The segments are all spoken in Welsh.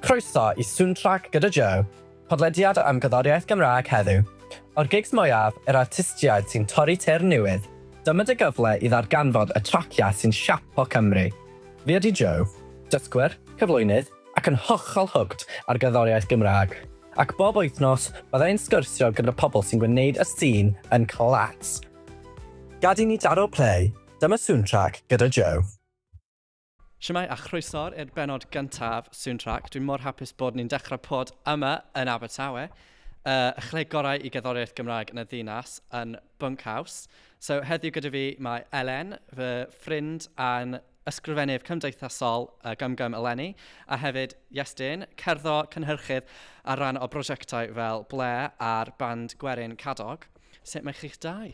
Croeso i Soundtrack gyda Joe, podlediad am gerddoriaeth Gymraeg heddiw. O'r gigs mwyaf, yr artistiaid sy'n torri teyrn newydd, dyma dy gyfle i ddarganfod y traciau sy'n siapo Cymru. Fi ydi Joe, dysgwr, cyflwynydd ac yn hollol hooked ar gerddoriaeth Gymraeg, ac bob wythnos bydda i'n sgwrsio gyda pobl sy'n gwneud y sîn yn class. Gad i ni daro play! Dyma Soundtrack gyda Joe. Shwmae a chroeso'r i'r benod gyntaf Soundtrack. Dwi'n mor hapus bod ni'n dechrau pod yma yn Abertawe. Uh, y chleg gorau i gerddoriaeth Gymraeg yn y ddinas yn Bunkhouse. So heddiw gyda fi mae Elen, fy ffrind a'n ysgrifennydd cymdeithasol uh, Gum Gum eleni, a hefyd Iestyn, cerddo cynhyrchydd ar ran o brosiectau fel Ble a'r band Gwerin Cadog. Sut mae chi'ch dau?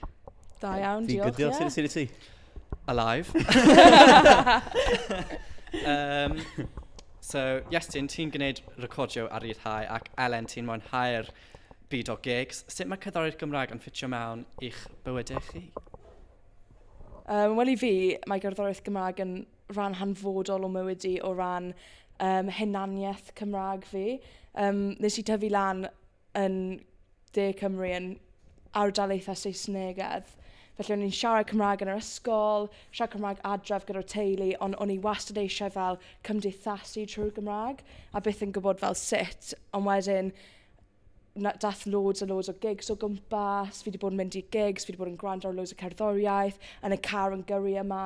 Da iawn, Fi'n good diolch, diolch, ie. sut sut i ti? Alive. um, so, Iestyn, ti'n gwneud recordio a rhyddhau ac Elen, ti'n mwynhau'r byd o gigs. Sut mae cerddoriaeth Gymraeg yn ffitio mewn i'ch bywydau chi? Um, Wel i fi, mae gerddoriaeth Gymraeg yn rhan hanfodol o mywyd i o ran um, hunaniaeth Cymraeg fi. Um, nes i tyfu lan yn De Cymru yn ardalaethau Saesnegedd. Felly o'n i'n siarad Cymraeg yn yr ysgol, siarad Cymraeg adref gyda'r teulu, ond o'n i wastad eisiau fel cymdeithasu trwy'r Gymraeg, a byth yn gwybod fel sut. Ond wedyn, na, dath loads a loads o gigs o gwmpas, fi wedi bod yn mynd i gigs, fi wedi bod yn gwrando ar loads o cerddoriaeth, yn y car yn gyrru yma,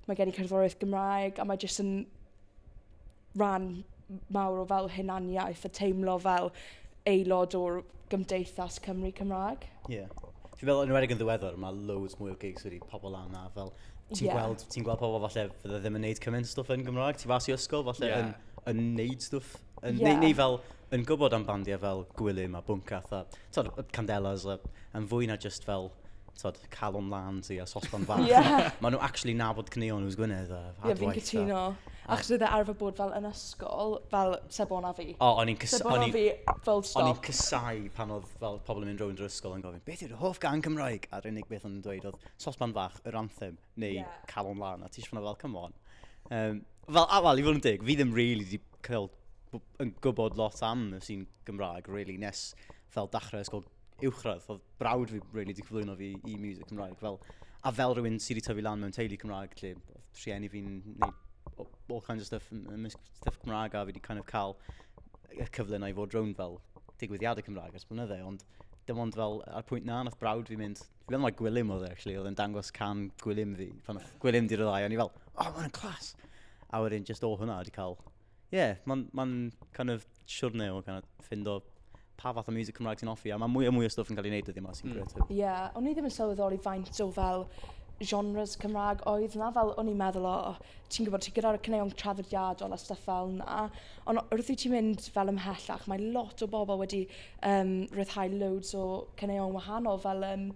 mae gen i cerddoriaeth Gymraeg, a mae jyst yn rhan mawr o fel hunaniaeth a teimlo fel aelod o'r gymdeithas Cymru Cymraeg. Ie. Yeah. Fi'n meddwl, yn wedig yn ddiweddar, mae loads mwy o gigs wedi pobl lan na fel... Ti'n yeah. gweld, ti gweld pobl falle fydde ddim yn neud cymaint stwff yn Gymraeg. Ti fas i ysgol falle yeah. yn, yn neud stwff. Yn, yeah. neu, neu fel yn gwybod am bandiau fel Gwilym a Bwncath a tod, y Candelas a, yn fwy na jyst fel tod, calon lan ti a sosban fach. yeah. Maen nhw actually nabod cneon who's Gwynedd a adwaith. Ie, fi'n cytuno. Achos oedd e arfer bod fel yn ysgol, fel Sebon a fi. O, oh, o'n i'n cysau... Sebon a fi, full stop. O'n i'n cysau pan oedd fel pobl yn mynd rownd yr ysgol yn gofyn, beth yw'r hoff gan Cymraeg? A'r unig beth o'n nhw'n dweud oedd sosban fach, yr anthem. neu yeah. calon lan, a ti eisiau fel, come on. Um, fel, a fel, i fod yn dig, fi ddim really wedi cael yn gwybod lot am y sy'n Gymraeg, really, nes fel dachrau ysgol uwchradd. Oedd brawd fi really wedi cyflwyno fi i music Cymraeg. Fel, a fel rhywun sydd wedi tyfu lan mewn teulu Cymraeg, lle rhieni fi'n neud all kinds of stuff, ymysg stuff Cymraeg, a fi wedi kind of cael y cyfle na i fod rhywun fel digwyddiadau Cymraeg ers blynydde, ond dim ond fel ar pwynt na, nath brawd fi mynd, Dwi meddwl mai Gwilym oedd e, actually, oedd e'n dangos can Gwilym fi. Pan oedd Gwilym di ryddhau, o'n i fel, oh, mae'n clas! A wedyn, just o hwnna, wedi cael... Ie, yeah, mae'n ma kind of siwrne o kind of ffindo pa fath o music Cymraeg sy'n offi, a mae mwy a mwy o stwff yn cael ei wneud ydy yma sy'n mm. gret. Ie, yeah, o'n i ddim yn sylweddoli faint o fel genres Cymraeg oedd na, fel o'n i'n meddwl, o, oh, ti'n gwybod, ti gyda'r cyneuon traddodiadol a stuff fel na, ond wrth i ti'n mynd fel ymhellach, mae lot o bobl wedi um, rhyddhau loads o caneuon wahanol fel um,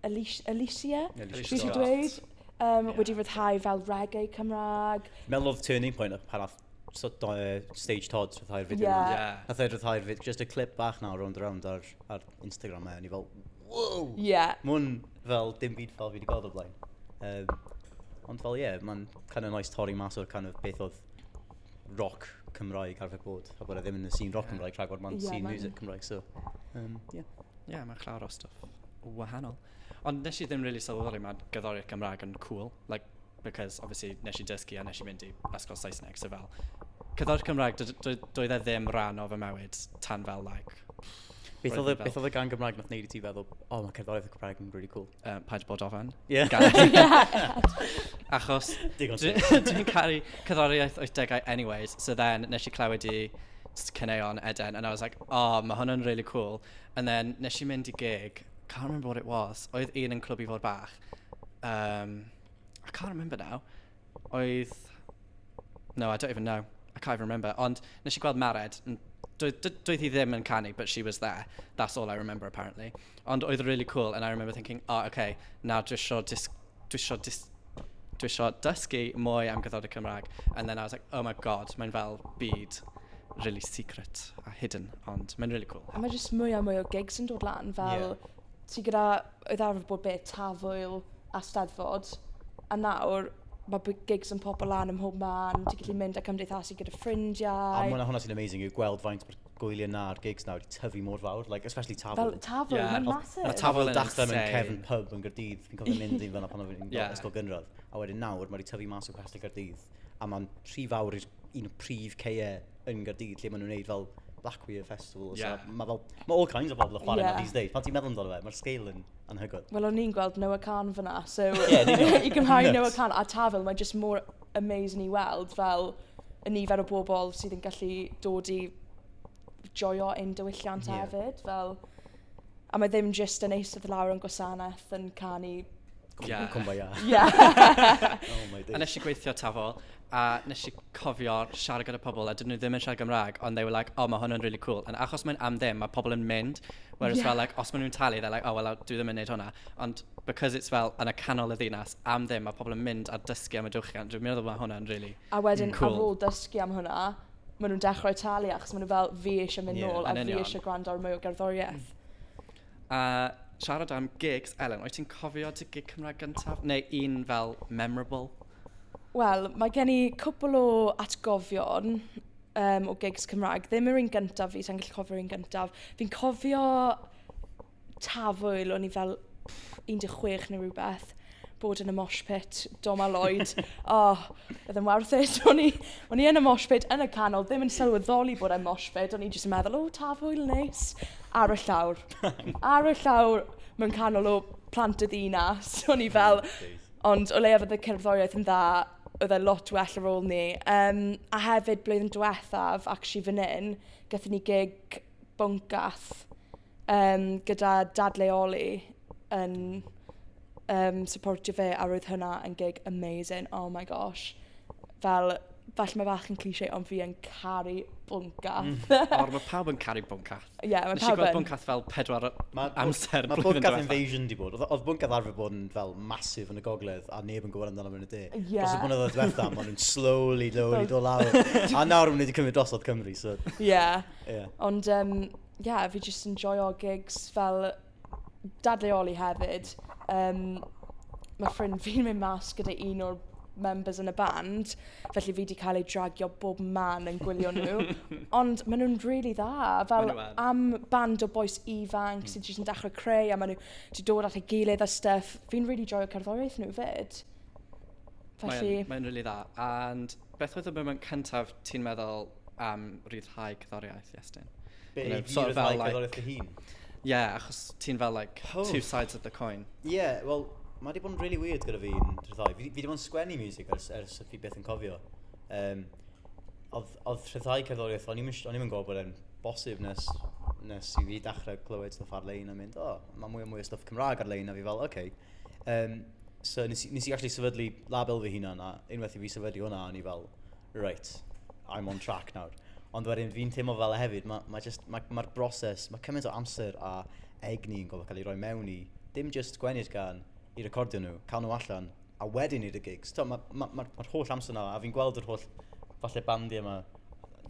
Alicia, Alicia, Alicia dwi wedi dweud, um, yeah. wedi rhyddhau fel reggae Cymraeg. Mel Love Turning Point, pan oedd so, do, uh, Stage Todd rhyddhau'r fideo yeah. yma. Yeah. Nath e rhyddhau'r fideo, just a clip bach na round round ar, ar Instagram e, o'n i fel, wow! Yeah. Mwn fel dim byd fel fi wedi gweld o blaen. Um, ond fel ie, yeah, mae'n kind of nice torri mas o'r kind of beth oedd roc Cymraeg arfer bod, a bod e ddim yn y scene roc Cymraeg yeah. rhagor, mae'n yeah, scene music Cymraeg, so, um, yeah. yeah, mae'n llawer o stuff wahanol. Ond nes i ddim really sylweddoli mae gyddori'r Gymraeg yn cool, like, because obviously nes i dysgu a nes i mynd i ysgol Saesneg, so fel, cyddori'r Cymraeg, doedd e ddim rhan o fy mywyd tan fel, like, Beth oedd y gan Gymraeg nath neud i ti feddwl, oh, mae cerddoriaeth y Cymraeg yn really cool? uh, paid bod ofan. Yeah. Achos dwi'n caru cyddoriaeth 80au anyways, so then nes i clywed i cyneuon Eden, and I was like, oh, mae hwn yn really cool. And then nes i mynd i gig, can't remember what it was, oedd un yn clwb i fod bach. Um, I can't remember now. oedd... no, I don't even know, I can't even remember. Ond wnes i gweld Mared. N- doedd d- doedd hi ddim yn canu but she was there, that's all I remember apparently. Ond oedd o'n rili cŵl and I remember thinking oh ok nawr dwi isio dis- dwi isio dis- dwi isio dysgu mwy am gerddoriaeth Cymraeg. And then I was like oh my god mae'n fel byd rili secret a hidden ond mae'n rili cŵl... A mae jyst mwy a mwy o gigs yn dod lan fel... ie. Ti gyda oedd arfer bod be'? Tafwyl a Steddfod. A nawr ma' by- gigs yn popo lan ym mhob man, ti'n gallu mynd a cymdeithasu gyda ffrindiau. A ma' hwnna sy'n amazing yw gweld faint ma'r gwyliau 'na a'r gigs 'na wedi tyfu mor fawr, like especially Tafwyl. Fel Tafwyl, ma'n massive. Mae 'na Tafwyl yn dechre mewn cefn pub yn Gaerdydd, fi'n cofio mynd i fan'na pan o'n i'n ysgol gynradd, a wedyn nawr ma' 'di tyfu mas o Castell Caerdydd, a ma'n rhy fawr i'r un o prif caeau yn Gaerdydd lle maen nhw'n wneud fel Black Weir Festival. Ie. So, mae fel, mae all kinds of bobl yn chwarae yna Ie. these days. Pan ti'n meddwl amdano fe, mae'r scale yn anhygoel. Wel, o'n i'n gweld Noah Khan fan'na, so... Ie, yn union. ...i gymharu Nuts. Noah Khan a Tafwyl, mae jyst mor amazing i weld fel y nifer o bobl sydd yn gallu dod i joio ein diwylliant hefyd. Fel... A mae ddim jyst yn eistedd lawr yn gwasanaeth yn canu... Ie. ...Kumbaya. Ie. Oh my days. A wnes i gweithio tafol a wnes i cofio siarad gyda pobl a dydyn nhw ddim yn siarad Gymraeg ond they were like "O mae hwn yn rili cwl". Ond achos mae'n am ddim, mae pobl yn mynd whereas... ie ...fel like os maen nhw'n talu they're like "O wel dwi ddim yn wneud hwnna". Ond because it's fel yn y canol y ddinas am ddim mae pobl yn mynd a dysgu am y diwylliant dwi'n meddwl mae hwnna'n rili... A wedyn... cwl. ...ar ôl dysgu am hwnna... maen nhw'n dechrau talu achos maen nhw fel fi eisiau mynd yeah, nôl a fi eisiau gwrando ar mwy o gerddoriaeth. Mm. A siarad am gigs, Ellen, oes ti'n cofio dy gig Cymraeg gyntaf? Neu un fel memorable? Wel, mae gen i cwpl o atgofion um, o gigs Cymraeg. Ddim yr un gyntaf fi, sa'n gallu cofio'r un gyntaf. Fi'n cofio tafwyl, o'n i fel 16 neu rhywbeth, bod yn y mosh pit, Dom a Lloyd. o, oh, oedd yn worth it. O'n i, o'n i yn y mosh pit, yn y canol, ddim yn sylweddoli bod yn mosh pit, o'n i jyst yn meddwl, o, oh, tafwyl, neis. Ar y llawr. Ar y llawr, mewn canol o plant y ddinas. O'n i fel, ond o leiaf oedd y cerddoriaeth yn dda, oedd e lot well ar ôl ni. Um, a hefyd, blwyddyn diwethaf, actually fan hyn, gatho ni gig bwncath Yym, gyda dadleoli yn yym syportio fe a roedd hynna yn gig amazing, oh my gosh. Fel, falle mae bach yn cliché ond fi yn caru Bwncath. Mm. O, mae pawb yn caru Bwncath. Ie, yeah, mae pawb yn. Nes i gweld Bwncath fel pedwar ma, amser ma blwyddyn Bwncath Invasion di bod. Oedd Bwncath arfer bod yn fel masif yn y gogledd a neb yn gwybod amdano mewn y de. Yeah. Dros y blynyddoedd diwetha, maen nhw'n slowly, slowly dod lawr. a nawr maen nhw wedi cymryd drosodd Cymru, so... Ie. Yeah. Yeah. Ond, um, ie, fi jyst yn joio gigs fel dadleoli hefyd. Yym, ma' ffrind fi'n mynd mas gyda un o'r members yn y band, felly fi wedi cael ei dragio bob man yn gwylio nhw. Ond maen nhw'n rili really dda. Fel ma am band o boes ifanc mm. sy'n jyst yn dechrau creu a maen nhw wedi dod at ei gilydd a stuff. Fi'n rili really joio cerddoriaeth nhw fyd. Felly... Mae'n mae really dda. And beth oedd y moment cyntaf ti'n meddwl am rhyddhau cyddoriaeth Iestyn. Be, you know, i sort of fel, like, dy hun? Ie, yeah, achos ti'n fel, like, oh. two sides of the coin. Ie, yeah, wel, mae wedi bod yn really weird gyda fi'n rhyddhau. Fi, fi wedi bod yn sgwennu music ers, ers fi beth yn cofio. Um, oedd, oedd rhyddhau cerddoriaeth, o'n i'n mynd gwybod bod e'n bosib nes, nes i fi dechrau clywed stuff ar-lein a mynd, o, oh, mae mwy o mwy o stuff Cymraeg ar-lein, a fi fel, oce. Okay. Um, so nes, nes i actually sefydlu label fy hunan, a unwaith i fi sefydlu hwnna, o'n i fel, reit, I'm on track nawr. Ond wedyn fi'n teimlo fel e hefyd, mae'r ma' jyst, ma' ma'r broses, mae cymaint o amser a egni yn gorfod cael ei roi mewn i, dim jyst gwennu'r gan, i recordio nhw, cael nhw allan, a wedyn i'r gigs. Mae'r ma, ma, ma, ma holl amser yna, a fi'n gweld yr holl falle bandiau yma,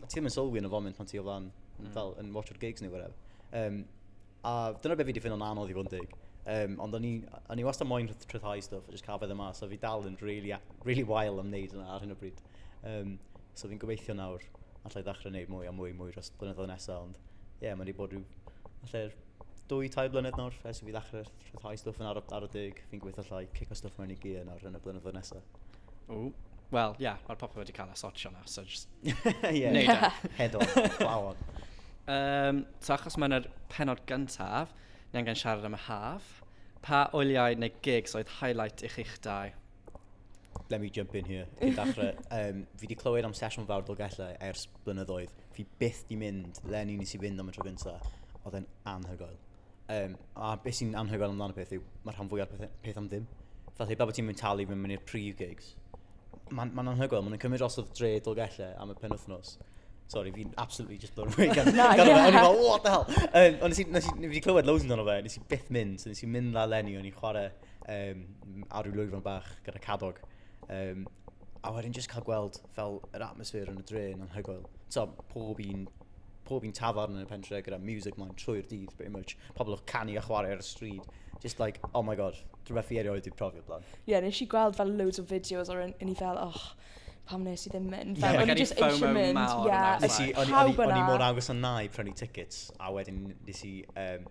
ti ddim yn sylwi yn y foment pan ti o flan, mm. fel yn watch o'r gigs neu whatever. Um, A dyna beth fi wedi ffind o'n anodd i fod yn deg. Um, ond o'n i wastad moyn rhyddhau stwff a jyst cael fydde mas. So fi dal yn really, really wael am wneud yna ar hyn o bryd. Um, so fi'n gobeithio nawr allai ddechrau wneud mwy a mwy mwy dros blynyddoedd nesaf. Ond ie, yeah, mae wedi bod rhyw... Allai'r dwy, tair blynedd nawr ers i fi ddechrau rhyddhau stwff yn ar, ar y deg. Fi'n gobeithio allai cico stwff mewn i gear nawr yn y blynyddoedd nesaf. Ww. Wel, ie, mae'r popeth wedi cael ei sortio nawr, so jyst... Ie. ...neud e. Head off, plough on. Yym, so achos ma' 'na'r pennod gyntaf, ni angen siarad am y haf. Pa wyliau neu gigs oedd highlight i chi'ch dau? Let me jump in here, cyn dachre. Yym, fi 'di clywed am Sesiwn Fawr Dolgellau ers blynyddoedd. Fi byth 'di mynd leni, nes i fynd am y tro gynta. Oedd e'n anhygoel. Um, a beth sy'n anhygoel amdano peth yw, mae'r rhan fwyaf peth, peth am ddim. Felly, pa bod ti'n mynd talu fynd mynd i'r prif gigs, mae'n ma anhygoel, mae'n cymryd os oedd dre Dolgellau am y pen wythnos. Sorry, fi'n absolutely just blown away gan no, yeah. O'n i'n fel, what the hell? Um, ond nes i, nes i, nes i clywed loads amdano fe, nes i byth mynd, so nes i mynd la lenni, o'n i'n chwarae um, ar ryw lwyfan bach gyda cadog. Um, a wedyn just cael gweld fel yr atmosffer yn y dre yn anhygoel. So, pob un pob un tafarn yn y pentre gyda music mlaen trwy'r dydd, pretty much. Pobl yn canu a chwarae ar y stryd. Just like, oh my god, rhywbeth fi erioed wedi profi o blaen. Ie, yeah, nes i gweld fel loads o videos o'r un i fel, och, pam nes i ddim mynd? Fel, yeah, o'n i just eisiau mynd. Mawr, yeah, nes i, o'n i mor agos a na i prynu tickets, a wedyn nes i, um,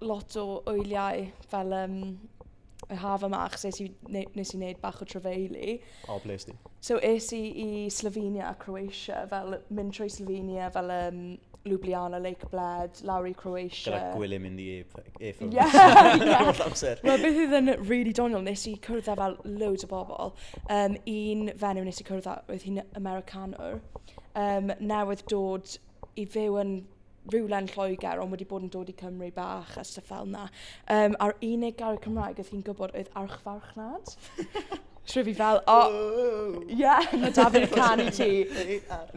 lot o wyliau fel um, y haf yma, achos nes i, ne, nes i wneud bach o trefeili. O, ble ysdi? So es i i Slovenia a Croatia, fel mynd trwy Slovenia, fel um, Ljubljana, Lake Bled, lawr i Croatia. Gyda gwylio mynd i e-ffwrdd. Ie, ie. Wel, beth oedd yn really doniol, nes i cwrdd â fel loads o bobl. Um, un fenyw nes i cwrdd â, oedd hi'n Americanwr, um, newydd dod i fyw yn rywle yn Lloegr ond wedi bod yn dod i Cymru bach a stuff fel yna. Um, a'r unig gair Cymraeg oedd hi'n gwybod oedd archfarchnad. Trwy fi fel, o, oh, yeah, mae David yn canu ti.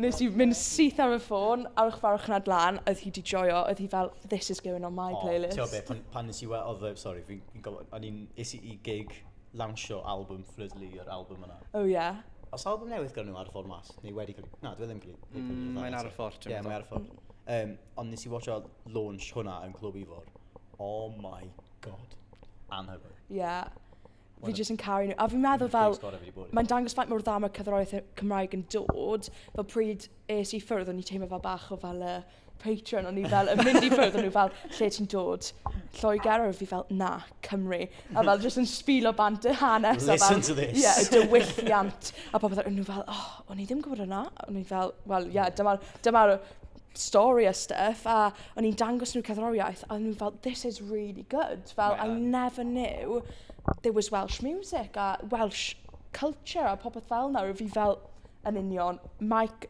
Nes i mynd syth ar y ffôn, archfarchnad lan, oedd hi di joio, oedd hi fel, this is going on my oh, playlist. Ti'n pan, pan nes i weld, oedd, sorry, fi'n gwybod, o'n i'n, is i gig lawnsio albwm Fflydlu yr albwm yna. O ie. Oes albwm newydd gan nhw ar y ffordd mas? Neu wedi cael ei... Na, dwi e ddim cael ei... Mm, mae'n ar y ffordd, ti'n meddwl? Ie, mae'n ar y ffordd. Um, ond nes i watcha launch hwnna yn Clwb Ifor. Oh my god. Anhygoel. Ie. Yeah. Fi jyst yn caru nhw. A fi'n meddwl fel... Mae'n dangos faint mor dda mae cyfrolau Cymraeg yn dod. Fel pryd es i ffwrdd, o'n i teimlo fel bach o fel y... Patreon, o'n i fel, yn mynd i ffwrdd, o'n nhw fel, lle ti'n dod? Lloegr, a fi fel, na, Cymru. A fel, jyst yn sbilo bant y hanes. Listen fel, to this. Ie, yeah, dywylliant. A popeth, o'n nhw fel, oh, o'n i ddim yn gwybod yna. O'n i fel, wel, ie, yeah, dyma'r dyma stori a stuff. A o'n i'n dangos nhw cerddoriaeth, a o'n nhw fel, this is really good. Fel, I never knew there was Welsh music a Welsh culture a popeth fel na. Fi fel, yn union, Mike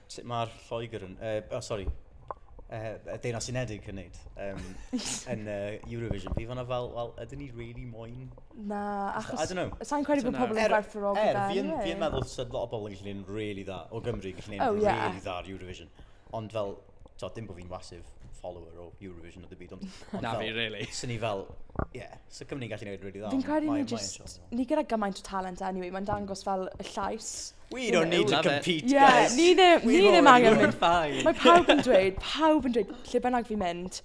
Sut mae'r Lloegr yn... Uh, oh, sori. Uh, y Deunas Unedig yn neud um, yn uh, Eurovision. Fi fanna fel, wel, ydyn ni really moyn... Na, achos... I don't know. Sa'n credu bod pobl yn er, gwerthfawrogi er, da. Er, fi'n fi meddwl sydd lot o bobl yn gallu neud really dda o Gymru, gallu neud oh, yeah. really dda ar Eurovision. Ond fel, to, dim bod fi'n wasif follower o Eurovision o dy byd, ond... ond Na, fi, really. Swn ni fel, yeah, so Cymru'n gallu neud really dda. Fi'n credu ni just, ni gyda gymaint o talent anyway, mae'n dangos fel y llais We don't need to compete, guys. Ie, ni ddim angen mynd. Mae pawb yn dweud, pawb yn dweud, lle bynnag fi'n mynd,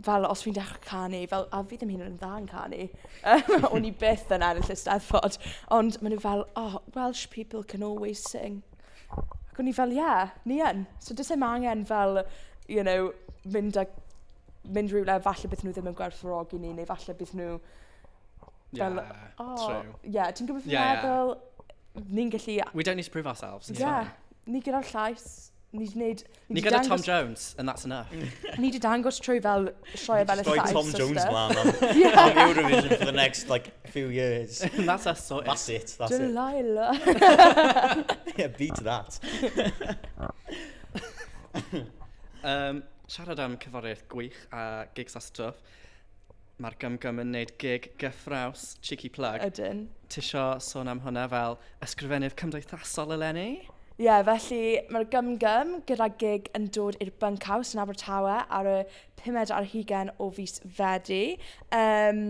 fel os fi'n dechrau canu, fel, a fi ddim hyn yn dda yn canu, um, o'n i byth yn ennill y steddfod, ond maen nhw fel, oh, Welsh people can always sing. Ac o'n i fel, ie, yeah, ni yn. So dys e'n angen fel, you know, mynd a mynd rhywle, falle bydd nhw ddim yn gwerthfawrogi ni, neu falle bydd nhw Fel, o, ie, ti'n gwybod beth fi'n meddwl? Ni'n gallu... We don't need to prove ourselves. Ie, ni gyda'r llais, ni wedi gwneud... Ni gyda Tom Jones, and that's enough. Ni wedi dangos trwy fel sioe fel y llais. Trwy Tom Jones mlaen am Eurovision for the next, like, few years. And that's us sorted. That's it, that's it. Delilah. yeah, beat that. um, siarad am cyforiaeth gwych a gigs a stuff. Mae'r Gum Gum yn wneud gig gyffrous, cheeky plug... Ydyn. ...Ti isio sôn am hwnna fel ysgrifennydd cymdeithasol eleni? Ie, yeah, felly mae'r Gum Gum gyda gig yn dod i'r Bunkhouse yn Abertawe ar y 5 ar hugen o fus Fedi. Um,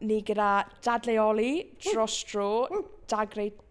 ni gyda dadleoli, dros dro, dagrau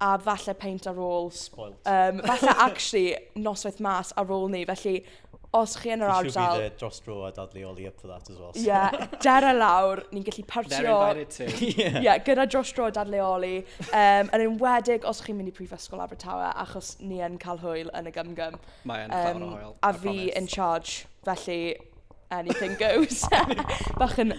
a falle peint ar ôl... Spoilt. Um, falle actually noswaith mas ar ôl ni, felly os chi yn yr ardal... You should be there dros dro a dadlu oli up for that as well. So. Yeah, der a lawr, ni'n gallu partio... They're invited too. yeah. yeah, gyda dros dro a dadlu oli. Um, yn enwedig os chi'n mynd i Prifysgol Abertawe, achos ni yn cael hwyl yn y gymgym. Mae yn um, o hwyl. A fi in charge, felly anything goes. bach yn,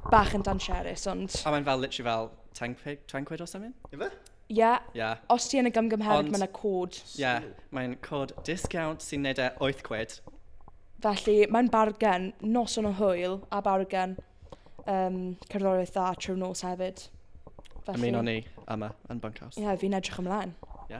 bach yn dan sherus, ond... A mae'n fel, literally fel, 10 pe- 10 quid or something? Ife? Ie, Ie. os ti yn y gymgymheredd, Ond- mae yna cod. Ie, mae'n cod discount sy'n neud e 8 quid. Felly, mae'n bargen, noson o hwyl a bargen um, cerddoriaeth dda trwy nos hefyd. Felly, Ymuno ni yma yn Bunkhouse. Ie, fi'n edrych ymlaen. Ie.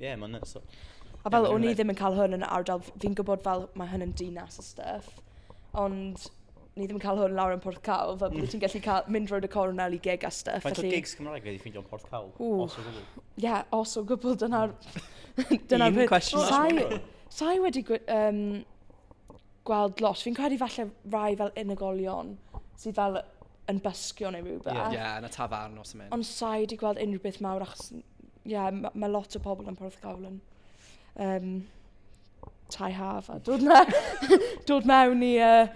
Ie, yeah, mae'n nuts. A fel, o'n i ddim yn cael hwn yn ardal, fi'n gwybod fel mae hwn yn dinas a stuff, ond ni ddim yn cael hwn lawr yn Porth Cawl, fel bod mm. ti'n gallu cael, mynd roed y cornel i gig a stuff. Faint o gigs Cymraeg wedi ffeindio yn Porth Cawl? Os o gwbl. Ie, yeah, os o gwbl, dyna'r... Mm. dyna'r Un cwestiwn. Sai, sai wedi um, gweld lot. Fi'n credu falle rai fel unigolion sydd fel yn bysgio neu rhywbeth. Ie, yeah. yeah, na tafarn os ymwneud. Ond sai wedi gweld unrhyw beth mawr achos ie, ma' ma' lot o pobl yn Porthcawl yn yym tai haf a dod mewn, dod mewn i uh,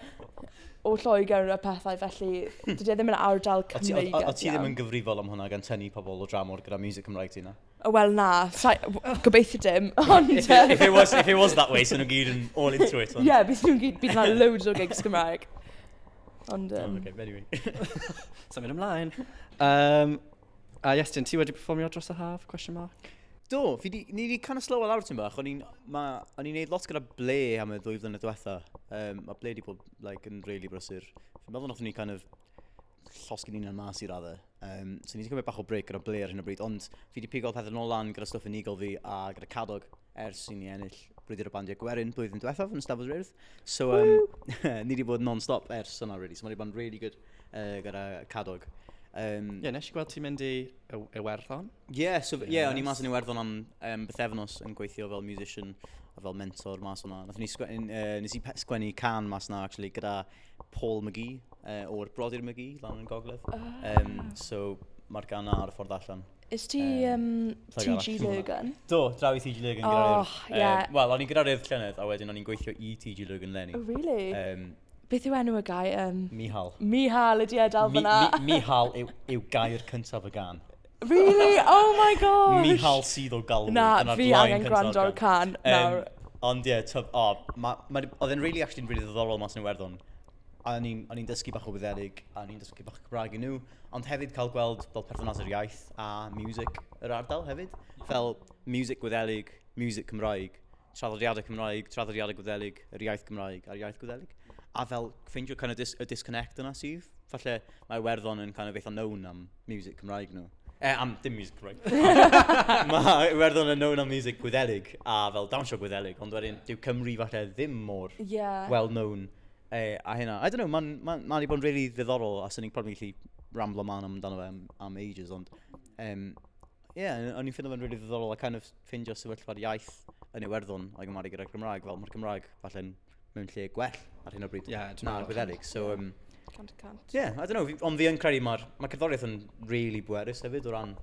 o Lloegr a pethau, felly hmm. dydy e ddim yn ardal Cymreig. O ti ddim yn gyfrifol am hwnna gan tynnu pobl o dramor gyda music Cymraeg ti na? Wel na, gobeithio dim. Ond, if, it, if, it was, if it was that way, so nhw'n gyd yn all into it. Ie, yeah, bydd nhw'n gyd, bydd na loads o gigs Cymraeg. Ond... Um... Oh, okay, anyway. Sa'n mynd ymlaen. Um, A uh, Iestyn, ti wedi performio dros y haf? Question mark. Do, fi di, ni wedi kind of slow lawr ti'n bach. O'n i'n neud lot gyda ble am y ddwy flynedd diwetha. Um, mae ble wedi bod like, yn really brysur. Fi'n meddwl nath ni kind of llosgyn ni'n yna mas i radde. Um, so ni wedi cymryd bach o break gyda ble ar hyn o bryd, ond fi wedi pigo pethau nôl lan gyda stuff yn eagle fi a gyda cadog. ers i ni ennill Brwydr y Bandiau Gwerin blwyddyn diwethaf yn Ystafell Ryrdd. So, um, ni wedi bod non-stop ers yna, really. So, mae wedi bod yn really good uh, gyda Cadog. Um, Ie, yeah, nes i gweld ti'n mynd i Iwerddon. Ie, yeah, so, ie, yeah, o'n i mas yn Iwerddon am um, bythefnos yn gweithio fel musician a fel mentor mas o'na. Nath ni sgwennu, uh, nes i sgwennu can mas na, actually, gyda Paul McGee, uh, o'r Brodyr McGee, lan yn Gogledd. Oh. Um, so, mae'r gan ar y ffordd allan. Is ti um, TG Lurgan? Do, draw i TG Lurgan gyda'r... Oh, ie. Yeah. Um, Wel, o'n i'n gyda'r urdd llynedd, a wedyn o'n i'n gweithio i TG Lurgan lenni. Oh, really? Um, Beth yw enw y gair? Um, Mihal. Mihal ydi edal fyna. Mi, mi, Mihal yw, yw gair cyntaf y gan. Really? Oh my gosh! Mihal sydd o galw. Na, fi angen gwrando ar can. Um, ond ie, yeah, oh, oedd e'n really actually'n really ddoddorol mas yn Iwerddon. a o'n i'n, o'n i'n dysgu bach o Wyddelig, a o'n i'n dysgu bach o Cymraeg i nhw, ond hefyd cael gweld fel perthynas yr iaith a miwsig yr ardal hefyd. Fel miwsig Gwyddelig, miwsig Cymraeg, traddodiadau Cymraeg, traddodiadau Gwyddelig, yr iaith Gymraeg a'r iaith Gwyddelig. A fel ffeindio kind of dis y disconnect yna sydd. Falle Mae Iwerddon yn kind of eitha known am music Cymraeg nhw. Eh, am dim music Cymraeg. Mae Iwerddon yn known am music Gwyddelig a fel dawnsio Gwyddelig, ond wedyn dyw Cymru falle ddim mor yeah. well known eh, a hynna. I don't know, mae'n ma, ma, ma wedi bod yn really ddiddorol a sy'n ni'n probably gallu ramblo man amdano fe am, am ages, ond um, yeah, o'n i'n ffindio fe'n really ddiddorol a kind of ffindio sefyllfa'r iaith yn Iwerddon a'i gymharu gyda'r Gymraeg. Fel mae'r Gymraeg falle'n mewn lle gwell ar hyn o bryd yeah, na'r Gwydderig. So, yeah. um, cant cant. Ie, yeah, I don't know, ond fi yn credu mae'r mae cerddoriaeth yn really bwerus hefyd o ran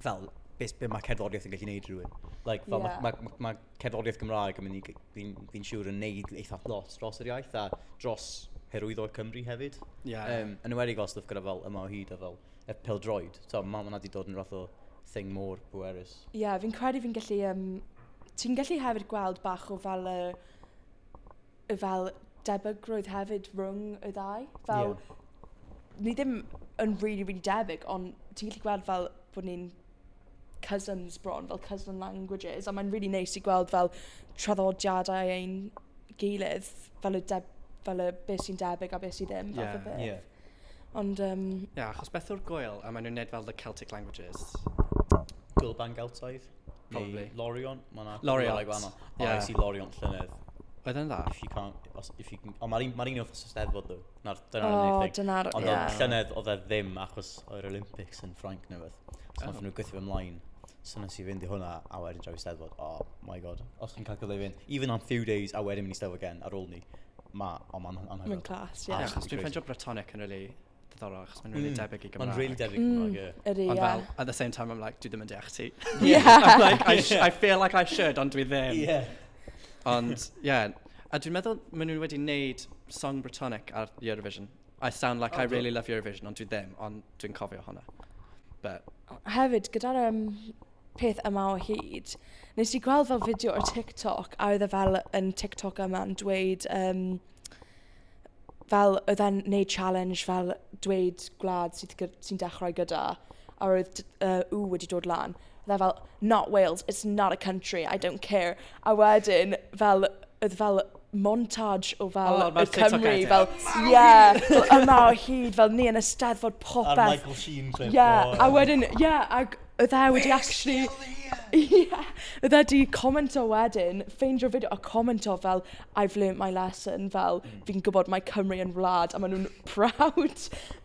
fel beth be mae cerddoriaeth yn gallu gwneud rhywun. Like, fel yeah. mae ma, ma, ma cerddoriaeth Gymraeg yn mynd i, fi'n fi siŵr yn neud eitha lot dros yr iaith a dros herwyddo Cymru hefyd. Yeah. Um, yn ymwedig fel stwff gyda fel yma o hyd a fel y pildroed. So, mae hwnna wedi dod yn rhaid o thing mor bwerus. Ie, yeah, fi'n credu fi'n gallu um, ti'n gallu hefyd gweld bach o fel y... y fel debygrwydd hefyd rhwng y ddau. Fel... ie. ...ni ddim yn rili rili debyg ond ti'n gallu gweld fel bod ni'n cousins bron, fel cousin languages a mae'n rili neis i gweld fel traddodiadau ein gilydd fel y deb- fel y be sy'n debyg a be sy ddim fath o beth. Ie, ie. Ond yym... Ie achos beth yw'r gweil a maen nhw'n wneud fel the Celtic languages? Gweil Bangeltoedd? Probably. Neu Lorion, mae yna Loriot. gwahanol. Ie. Yeah. I see Lorion llynedd. Oedd yn dda? If you can't, os, if you can, ond mae'r un, ma un o'r steddfod ddo. Na'r, dyna'r O, unig thing. dyna'r... Ond yeah. oedd llynedd oedd e ddim achos o'r Olympics yn Ffrainc neu beth. So oh. nath nhw gweithio fy mlaen. So nes i fynd i hwnna a wedyn draw i steddfod. Oh my god. Os chi'n cael cyfle i fynd, even am few days a wedyn mynd i steddfod gen ar ôl ni. Ma, o ma'n anhygoel. Mae'n class, ie. Yeah. Achos dwi'n ffeindio Bretonic yn really diddorol achos mae'n rili debyg i Gymraeg. Mae'n rili debyg i Gymraeg, ie. Mm, ydy, ie. Ond fel, at the same time, I'm like, dwi ddim yn deall ti. Ie. I'm like, I, I feel like I should, ond dwi ddim. Ie. Ond, ie. A dwi'n meddwl, maen nhw wedi wneud song Britannic ar Eurovision. I sound like I really love Eurovision, ond dwi ddim, ond dwi'n cofio hwnna. But... Hefyd, gyda'r um, peth yma o hyd. Nes i gweld fel fideo ar TikTok a oedd e fel yn TikTok yma yn dweud yym fel oedd e'n wneud challenge fel dweud gwlad sydd gy- sy'n dechrau gyda a roedd t- yy W wedi dod lan. Oedd e fel not Wales, it's not a country, I don't care. A wedyn fel oedd fel montage o fel oh, y Cymru, fel, ie, yeah, yma o hyd, fel ni yn y steddfod popeth. A'r Michael Sheen clip. Ie, yeah, a wedyn, ie, yeah, ac oedd e wedi actually... Ie, yeah, oedd e wedi commento wedyn, ffeindio fideo a commento fel, I've learnt my lesson, fel, mm. fi'n gwybod mae Cymru yn wlad, a maen nhw'n proud.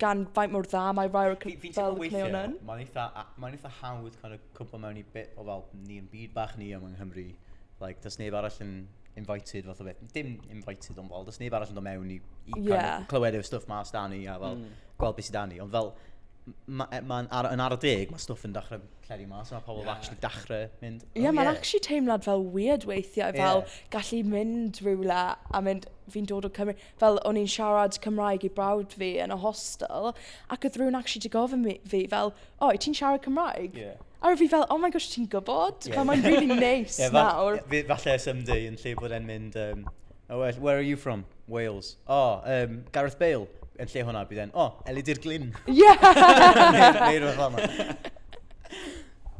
gan faint mor dda mae rai o'r Fi- fi'n teimlo fel y cneuon weithiau, yn. mae'n eitha, a- mae'n eitha hawdd kind of cwmpo mewn i bit o fel, ni yn byd bach ni yma yng Nghymru, like, does neb arall yn invited fath o beth, dim invited ond fel, does neb arall yn dod mewn i, i kind yeah. of clywed yw'r stuff mas da ni a fel, mm. gweld beth sydd da ni, ond fel, mae'n e, ma ar, yn ar y deg, mae stuff yn dechrau lledu mas, mae pobl yeah. actually dechrau mynd. Ie, yeah, oh, mae'n yeah. actually teimlad fel weird weithiau, fel yeah. gallu mynd rhywle a mynd, fi'n dod o Cymru, fel o'n i'n siarad Cymraeg i brawd fi yn y hostel, ac oedd rhywun actually di gofyn mi, fi fel, o, oh, ti'n siarad Cymraeg? Yeah. A rwyf fi fel, oh my gosh, ti'n gwybod? Yeah. Fel mae'n really nice yeah, nawr. Fa falle someday yn lle bod e'n mynd, um, oh, where are you from? Wales. Oh, um, Gareth Bale. Yn lle hwnna, bydd e'n, oh, Elidir Glyn. Yeah! Neu rhywbeth fel yna.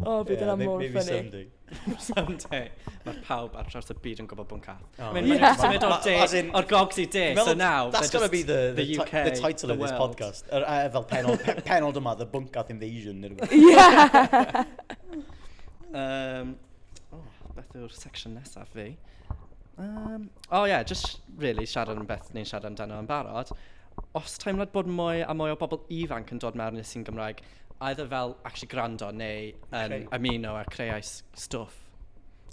O, bydd yna mor ffynnu. Some day. Mae pawb ar traws y byd yn gwybod bod yn cath. Oh, Mae'n yeah. symud o'r de, o'r gogs i de, so now... That's going to be the, the, the, UK, the title the of this world. podcast. Er, uh, fel penod, pe, penod yma, The Bunkath Invasion. Yeah! um, oh, beth yw'r section nesaf fi? Um, oh yeah, just really siarad am beth ni'n siarad amdano yn barod. Os teimlad bod mwy a mwy o bobl ifanc yn dod mewn i'r sy'n Gymraeg, either fel actually gwrando neu yn... Creu. ...ymuno a creu ai s- stwff.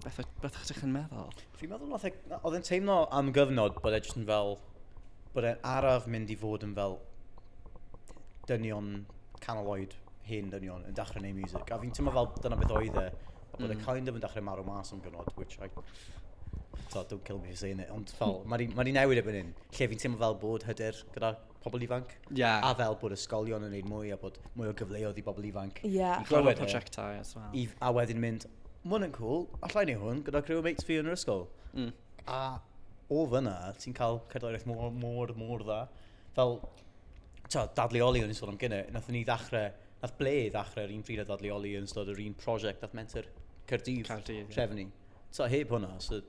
Beth o- beth o'ch chi'n meddwl? Fi'n meddwl wnaeth e... na, oedd e'n teimlo am gyfnod bod e jyst yn fel, bod e'n araf mynd i fod yn fel dynion canol oed, hen dynion, yn dechrau neud miwsig. A fi'n teimlo fel dyna beth oedd e, a bod e... Mm. ...kind of yn dechrau marw mas am gyfnod, which I... tibod, don't kill me for saying it, ond fel, ma' 'di ma' 'di newid erbyn hyn, lle fi'n teimlo fel bod hyder gyda... pobl ifanc. Yeah. A fel bod ysgolion yn gwneud mwy a bod mwy o gyfleoedd i bobl ifanc. Yeah. I glywed projectau as well. I, a wedyn mynd, mwyn yn cool, allai ni hwn gyda criw mates fi yn yr ysgol. Mm. A o fyna, ti'n cael cerddoriaeth mor, mor, mor dda. Fel, ta, dadleoli o'n i'n sôn am gynnau, nath ni ddechrau, nath ble ddechrau yr un pryd a dadleoli yn ystod yr un prosiect, nath menter Cerdydd, Cerdydd trefnu. Yeah. Twa, heb hwnna, so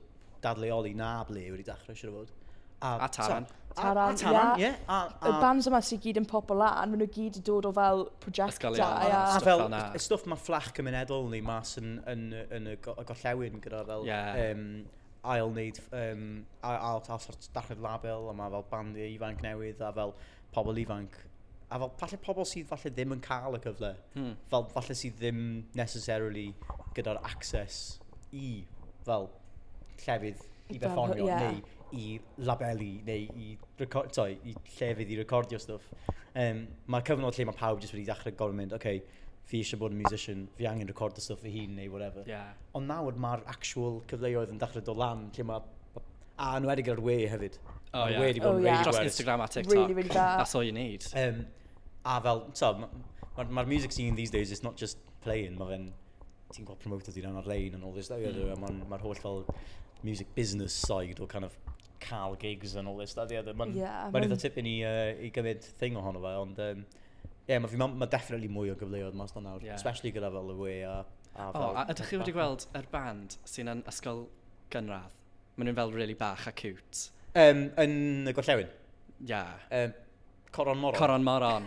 dadleoli na ble wedi dechrau, siwr o fod. A, a Taran. Taran, a Taran, ie. Yeah. Yeah. A, a, y bands yma sy'n gyd yn pop o lan, maen nhw gyd yn dod o fel projectau. A, a, a fel, y stwff mae fflach cymunedol ni mas yn, yn, yn, yn y gorllewin gyda fel... Yeah. Um, ail wneud, um, ail, ail, ail sort dachrau label, a mae fel bandiau ifanc newydd, a fel pobl ifanc, a fel falle pobl sydd falle ddim yn cael y cyfle, hmm. fel falle sydd ddim necessarily gyda'r access i fel llefydd i berfformio yeah. neu i labelu neu i, record, sorry, i llefydd i recordio stuff. Um, mae cyfnod lle mae pawb jyst wedi dechrau gorfod mynd, okay, fi eisiau bod yn musician, fi angen recordio stuff fy hun neu whatever. Yeah. Ond nawr mae'r actual cyfleoedd yn dechrau dod lan lle mae A yn wedi gyda'r we hefyd. O, oh, ie. Yeah. Oh, yeah. Dros Instagram a TikTok. Really, really da. That's all you need. Um, a fel, so, mae'r ma, ma music scene these days, it's not just playing, mae fe'n, ti'n gweld promoter ti'n ar-lein and all this, mm. mae'r ma, ma holl fel music business side o kind of cael gigs and all this, that, yeah, mae'n yeah, ma eitha tip i ni uh, i gymryd thing ohono fe, ond um, yeah, mae ma, ma definitely mwy o gyfleoedd mas na nawr, yeah. especially gyda fel y we a... a oh, a ydych chi wedi gweld yr band sy'n yn ysgol gynradd? Maen nhw'n fel really bach a cute. Um, yn y gorllewin? Ia. Yeah. Um, coron moron? Coron moron.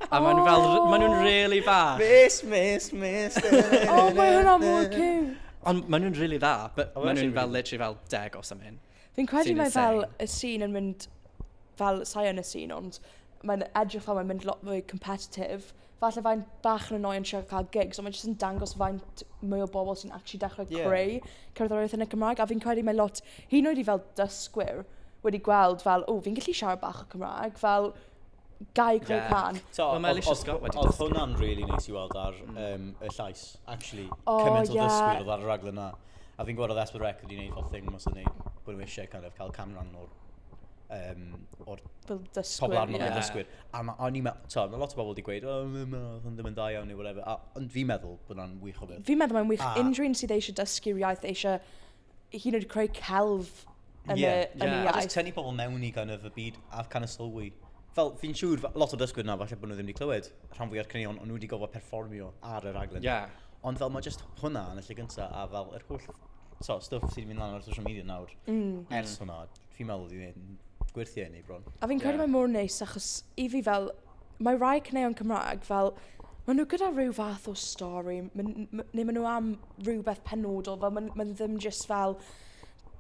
A oh. maen fel, maen nhw'n really bach. Miss, miss, miss. oh, maen nhw'n amlwg cute. Ond maen nhw'n really dda, but oh, maen nhw'n fel literally fel deg o something. Fi'n credu mae fel y sîn yn mynd, fel sain y sîn, ond mae'n edrych fel mae'n mynd lot fwy competitive falle fyddai'n bach yn annoying trio cael gigs, ond mae jyst yn dangos faint mwy o bobl sy'n actually dechrau yeah. creu cerddoriaeth yn y Cymraeg, a fi'n credu mae lot, hyn oed i fel dysgwyr, wedi gweld fel, o, fi'n gallu siarad bach o Cymraeg, fel, gai creu yeah. can. So, well, mae Alicia Scott wedi dysgu. Oedd hwnna'n really neis i weld ar mm. um, y llais, actually, oh, cymaint o yeah. ddysgwyr oedd ar y raglen na. A fi'n gwybod oedd Esbyd Rec wedi gwneud fel thing mas o'n nhw bod nhw eisiau kind of, cael canran o'r um, o'r pobl arno fel dysgwyr. A ma, o'n i'n meddwl, mae lot o bobl wedi gweud, oh, mae'n meddwl, ddim yn dda iawn neu whatever. A, ond fi'n meddwl bod hwnna'n wych o beth. Fi'n meddwl mae'n wych. A... Unrhyw un sydd eisiau dysgu'r iaith, eisiau hyn oed creu celf yn, yeah, y, yn yeah. y iaith. A just tynnu pobl mewn i kind of y byd a kind of sylwi. Fel, fi'n siŵr, lot o dysgwyr na, falle bod nhw ddim wedi clywed rhan fwy o'r cynnion, ond nhw wedi gofod perfformio ar y raglen. Yeah. Ond fel, mae just hwnna yn y lle gyntaf, a fel, yr holl so, stuff sydd wedi mynd lan ar social media nawr, mm. ers hwnna, fi'n meddwl fi'n gwirthio hynny bron. A fi'n credu yeah. mae mor neis, achos i fi fel, mae rhai cyneuon Cymraeg fel, maen nhw gyda rhyw fath o stori, neu maen nhw am rhywbeth penodol, fel maen, maen ddim just fel,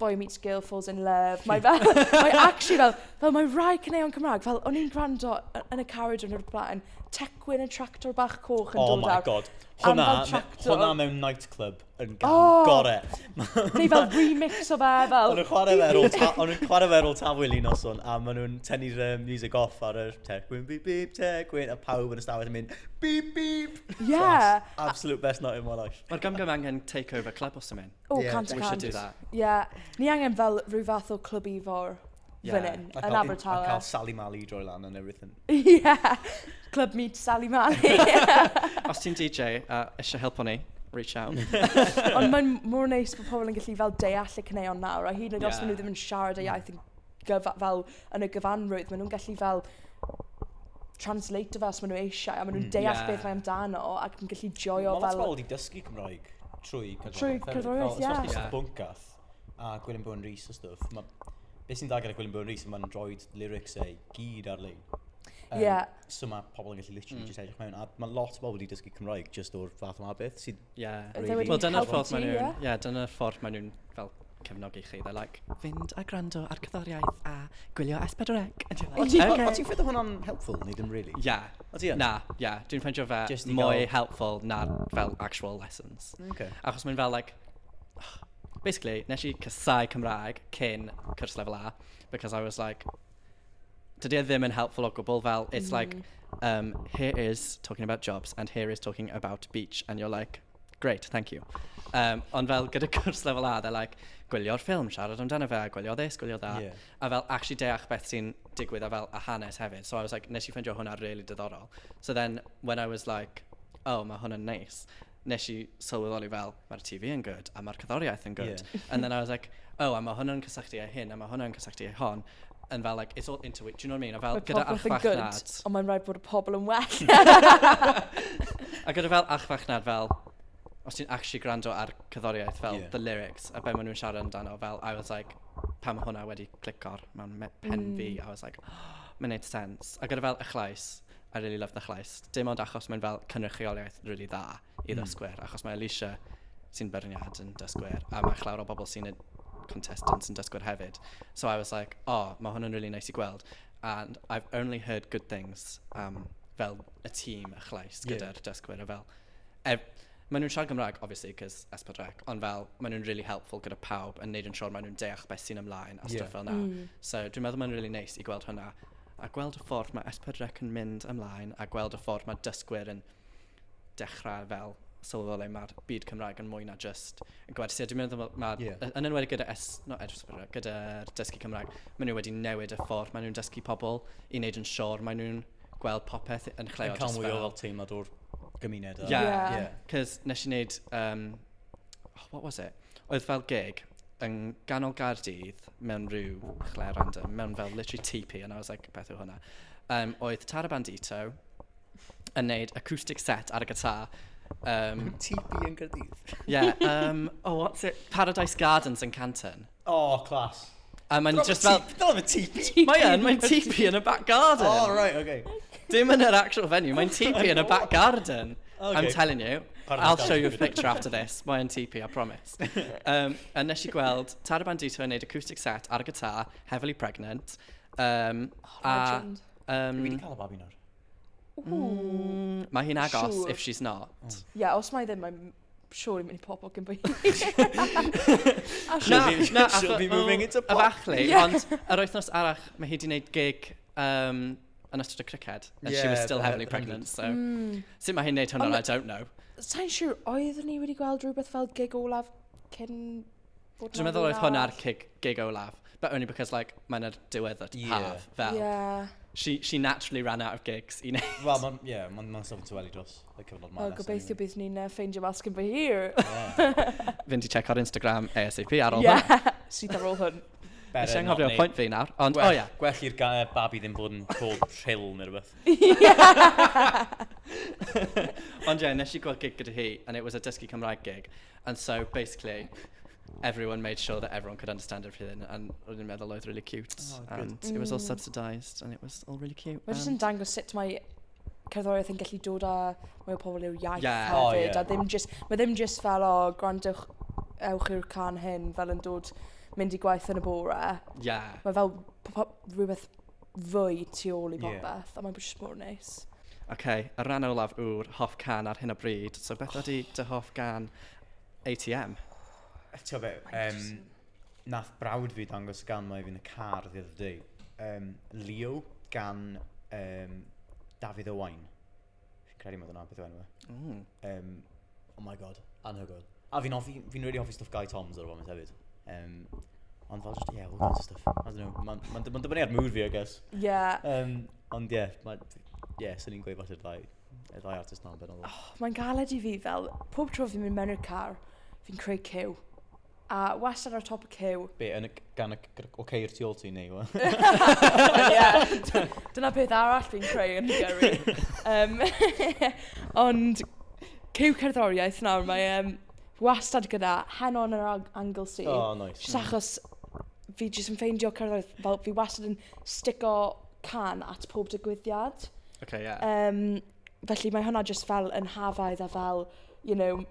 boy meets girl falls in love. Mae fel, mae actually fel, fel mae rhai cyneuon Cymraeg, fel o'n i'n gwrando yn y carriage yn yr blaen, tecwyn yn tractor bach coch yn oh dod awr. Oh my god, hwnna, hwnna mewn nightclub. yn gan oh, gore. Neu fel remix o fe, fel... Ond nhw'n chwarae fe ar ôl ta, ond nhw'n chwarae fe ar ôl tafwyl un noson, a maen nhw'n tynnu'r uh, music off ar yr tegwyn, beep beep, tegwyn, a pawb yn y stafell yn mynd, beep beep! Yeah. Class. Absolute best night in my life. Mae'r gam gam angen take over club os ymwneud. Oh, yeah, cant cant. We should do that. Yeah. Ni angen fel rhyw fath o club i fawr. yeah. fan hyn, yn Abertawe. A cael Sally Mali i droi lan and everything. yeah, Club Meet Sally Mali. Os ti'n DJ a uh, eisiau helpu ni, reach out. Ond mae'n mor neis bod pobl yn gallu fel deall y cyneuon nawr, a hyd yn oed yeah. os maen nhw ddim yn siarad y iaith yn gyfa, fel yn y gyfanrwydd, maen nhw'n gallu fel translate fel os maen nhw eisiau, a maen nhw'n mm, deall yeah. beth mae amdano, ac yn gallu joio fel... Mae'n lot pobl wedi dysgu Cymraeg trwy cydroedd. Trwy cydroedd, ie. Os oes bwncath, A Gwilym Bowen Rees a stwff. Ma... Be sy'n dda gyda Gwilym Bowen Rees, mae'n rhoi lyrics ei gyd ar-lein. Um, yeah. So mae pobl yn gallu literally mm. just edrych mewn. A mae lot o bobl wedi dysgu Cymraeg just o'r fath o abeth sydd... Yeah. Really... Wel, dyna'r ffordd maen nhw'n... Yeah, dyna'r ffordd maen nhw'n fel cefnogi chi. They're like, fynd a gwrando ar cyddoriaeth a gwylio S4C. O ti'n okay. ti ffedio hwnna'n helpful, neu ddim really? Yeah. O ti Na, yeah. Dwi'n ffeindio fe mwy helpful na fel actual lessons. Okay. Achos mae'n fel like, Basically, wnes i casáu Cymraeg cyn cwrs Lefel A because I was like dydy e ddim yn helpful o gwbl fel it's like yym here is talking about jobs and here is talking about beach and you're like great, thank you. Yym ond fel gyda cwrs Lefel A they're like gwylio'r ffilm, siarad amdano fe, gwylio this, gwylio that... ie... a fel acshyli deall beth sy'n digwydd a fel y hanes hefyd. So I was like wnes i ffeindio hwnna rili diddorol. So then when I was like "o ma' hwn yn neis". nes i sylweddoli fel, mae'r TV yn good, a mae'r cerddoriaeth yn good. Yeah. And then I was like, oh, a mae hwn yn cysylltu â hyn, a mae hwn yn cysylltu â hon. And fel, like, it's all into it, do you know what I mean? A fel, gyda archfachnad... Ond mae'n rhaid bod y pobl yn well. a gyda fel archfachnad, fel, os ti'n actually gwrando ar cyddoriaeth, fel, yeah. the lyrics, a be maen nhw'n siarad amdano, fel, I was like, pam hwnna wedi clicor mewn pen mm. fi, I was like, oh, mae'n neud sense. A gyda fel y chlais, I really love the llais. Dim ond achos mae'n fel cynrychioliaeth rili dda i ddysgwyr. Achos mae Alisha sy'n beirniad yn dysgwyr a mae llawer o bobl sy'n y contestants yn dysgwyr hefyd. So I was like o mae hwn yn rili neis i gweld and I've only heard good things am fel y tîm a Chlais gyda'r dysgwyr a fel ev- maen nhw'n siarad Cymraeg obviously cos S4C ond fel maen nhw'n rili helpful gyda pawb yn wneud yn siwr maen nhw'n deall beth sy'n ymlaen a stwff fel 'na. So dwi'n meddwl mae'n rili neis i gweld hwnna. A gweld y ffordd mae S4C yn mynd ymlaen a gweld y ffordd mae dysgwyr yn dechrau fel sylweddoli le mae'r byd Cymraeg yn mwy na jyst yn gwersi. A dwi'n meddwl fel mae... Ie. Yn enwedig gyda S... not S4C, gyda'r dysgu Cymraeg, maen nhw wedi newid y ffordd maen nhw'n dysgu pobl i wneud yn siŵr maen nhw'n gweld popeth yn lle o jyst fel... Yn cael mwy o fel teimlad o'r gymuned a... Ie. Ie. Cos wnes i wneud yym oh what was it? Oedd fel gig. yng nghanol Gaerdydd, mewn rhyw chwle random, mewn fel literally tŷ pi, and I was like, beth yw hwnna? Yym, oedd Tara Bandito yn wneud acoustic set ar y gitar, yym... Mewn tŷ pi yn Gaerdydd? Ie, yym, oh what's it, Paradise Gardens yn Canton. O, class. A maen nhw jyst fel... Dyna fe tŷ pi! Mae yn, mae'n tŷ pi yn y back garden! O, reit, ok. Dim yn yr actual venue, mae'n tŷ pi yn y back garden! I'm telling you, I'll show you a picture after this, mae'n tŷ pi, I promise. um, a nes i gweld Tara Bandito yn neud acoustic set ar y guitar, Heavily Pregnant. Um, oh, a, legend. Um, Dwi wedi cael y babi nawr. Mm, mae hi'n agos sure. if she's not. Ie, mm. yeah, os mae ddim, mae'n siwr i'n mynd i pob ogyn bwy. Na, na, she'll be moving into pop. Efallai, ond yr wythnos arach, mae hi wedi gwneud gig um, yn ystod y criced. And yeah, she was still heavily pregnant, so... Mm. Sut mae hi'n neud hwnna, I don't know. Sa'n siŵr, oedd ni wedi gweld rhywbeth fel gig olaf cyn bod Dwi'n meddwl oedd hwnna'r gig, gig olaf. But only because, like, mae'n yr diwedd o'r yeah. haf, fel. Yeah. She, she naturally ran out of gigs i wneud. Wel, mae'n yeah, ma, ma sylw tu wedi dros y cyfnod ma'n Wel, gobeithio bydd ni'n uh, ffeindio mas cyn fy hir. Yeah. Fynd i check ar Instagram ASAP ar ôl yeah. hwn. Sydd ar ôl hwn. Nes i anghofio pwynt fi nawr, ond o ia. Gwell i'r babi ddim bod yn cold chill neu rhywbeth. Ond ie, nes i gweld gig gyda hi, and it was a dysgu Cymraeg gig. And so, basically, everyone made sure that everyone could understand everything, and roedd i'n meddwl oedd really cute. Oh, good. And it was all subsidised, and it was all really cute. Mae jyst yn dangos sut mae cerddoriaeth yn gallu dod â mwy o pobl i'w iaith yeah. hefyd. Oh, yeah. A ddim just, mae ddim just fel, o, oh, gwrandwch, ewch i'r can hyn, fel yn dod, mynd i gwaith yn y bore. Yeah. Mae fel rhywbeth fwy tu ôl i popeth, yeah. a mae'n just mor neis. OK, y rhan olaf yw'r hoff can ar hyn o bryd. So beth oh. ydy dy hoff gan ATM? Ti'n fe, um, wnaeth brawd fi dangos y gan 'ma i fi yn y car the other day. Yym, Leo gan yym Dafydd Owain. Fi'n credu mai dyna beth yw enw fe. Mm. Yym, oh my God, anhygoel. A fi'n hoffi, fi'n rili hoffi stwff Gai Thoms ar y foment hefyd. Yym, ond fel jyst, ie, all sorts of stuff. I don't know, ma'n ma'n d- ma'n dibynnu ar mood fi, I guess. Ie. Yym, ond ie, mae, ie, swn i'n gweud falle'r ddau, y ddau artist 'na yn benodol. Mae'n galed i fi fel, pob tro fi'n mynd mewn i'r car, fi'n creu cyw. A wastad ar top y cyw. Be, yn y g- gan y g- g- o ceir tu ôl ti neu yw e? Ie. Dyna peth arall fi'n creu yn y gyrru. Um, ond cyw cerddoriaeth nawr, mae um, wastad gyda Heno yn yr ang- Anglesey. O, oh, nice. Just achos fi jyst yn ffeindio cerddoriaeth, fel fi wastad yn stico can at pob digwyddiad. Okay, yeah. Um, Felly mae hwnna jyst fel yn hafaidd a fel you know m-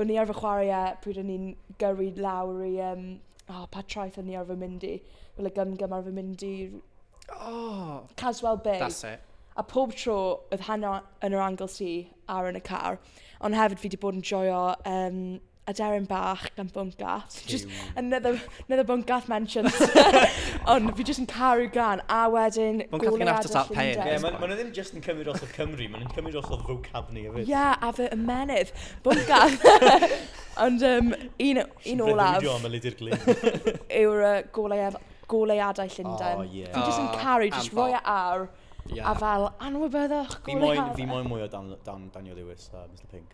o'n i arfer chwarae e pryd o'n i'n gyrru lawr i yym o pa traeth o'n i arfer mynd i? Fel y gym-gym arfer mynd i r- O! Caswell Bay. That's it. A pob tro oedd heno yn yr Anglesey ar yn y car ond hefyd fi 'di bod yn joio yym... aderyn bach gan Bwncath. Just another, another Bwncath mentions. Ond fi jyst yn caru gan. A wedyn... Bwncath yn after that pain. Ie, yeah, maen ma nhw ddim jyst yn cymryd os o Cymru, maen nhw'n cymryd os o vocabni hefyd. Ie, yeah, a fy ymenydd. Bwncath. Ond um, un, un olaf... Sy'n am y lidi'r glyn. Yw'r uh, goleuad, goleuadau Llundain. Oh, yeah. Fi jyst yn caru, jyst roi e ar. Yeah. A fel, anwybyddwch, goleuadau. Fi moyn mwy o Dan, Dan, Daniel Lewis a Mr Pink.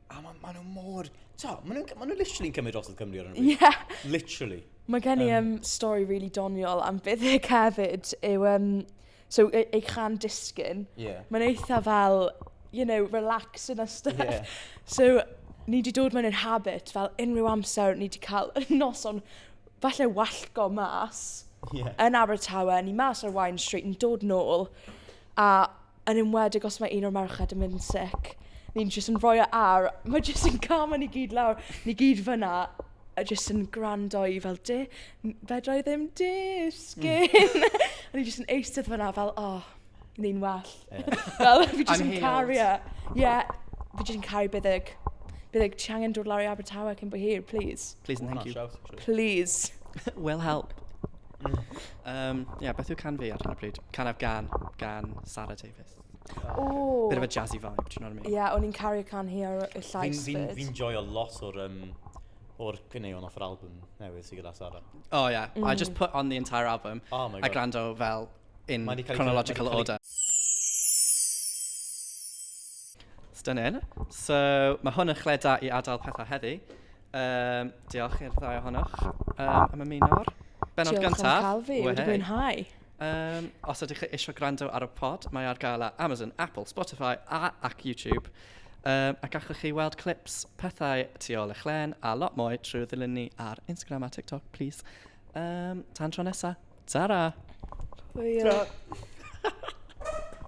A ma' ma' nhw mor... T'o', ma' nhw'n cy- ma' nhw literally yn cymryd drosodd Cymru ar hyn o bryd. Ie. Literally. Mae gen i yym stori rili doniol am Fyddic hefyd yw yym so e- ei chan disgyn... Ie. ...mae'n eitha fel you know relaxing a stuff... Ie. ...so ni 'di dod mewn i'r habit fel unrhyw amser ni 'di cael noson falle wallgo' mas... Ie. ...yn Abertawe, ni mas ar Waun Street yn dod nôl A yn enwedig os mae un o'r merched yn mynd yn sick, ni'n jyst yn rhoi e ar, mae jyst yn camu ni gyd lawr, ni gyd fan'na, a jyst yn gwrando i fel du- n- fedra i ddim disgyn! A ni jyst yn eistedd fan'na fel, o, ni'n well. Fel, fi jyst yn caru e. Ie, fi jyst yn caru Buddug. Buddug, ti angen dod lawr i Abertawe cyn bo hir, plis. Plis and thank you. Plis. Will help. Yym ie beth yw cân fi ar hyn o bryd? Can I've gân gan Sara Davies. Ww! Bit of a jazzy vibe, do you know what I mean? Ie, o'n i'n caru'r cân hi ar y llais 'fyd. Fi'n joio lot o'r yym o'r caneuon off yr album newydd sy gyda Sara. Oh yeah, I just put on the entire album... Oh my God. ...a gwrando fel in chronological order. Stunning. So mae hwn yn lle da i adael pethau heddi. Yym, diolch i'r ddau ohonoch yym am ymuno ar bennod gyntaf. Diolch am cael fi, wedi mwynhau. Um, os ydych chi eisiau gwrando ar y pod, mae ar gael ar Amazon, Apple, Spotify a ac YouTube. Um, a gallwch chi weld clips, pethau tu ôl eich len a lot mwy trwy ddilyn ni ar Instagram a TikTok, please. Um, tan tro nesaf. Ta-ra! Hwyl.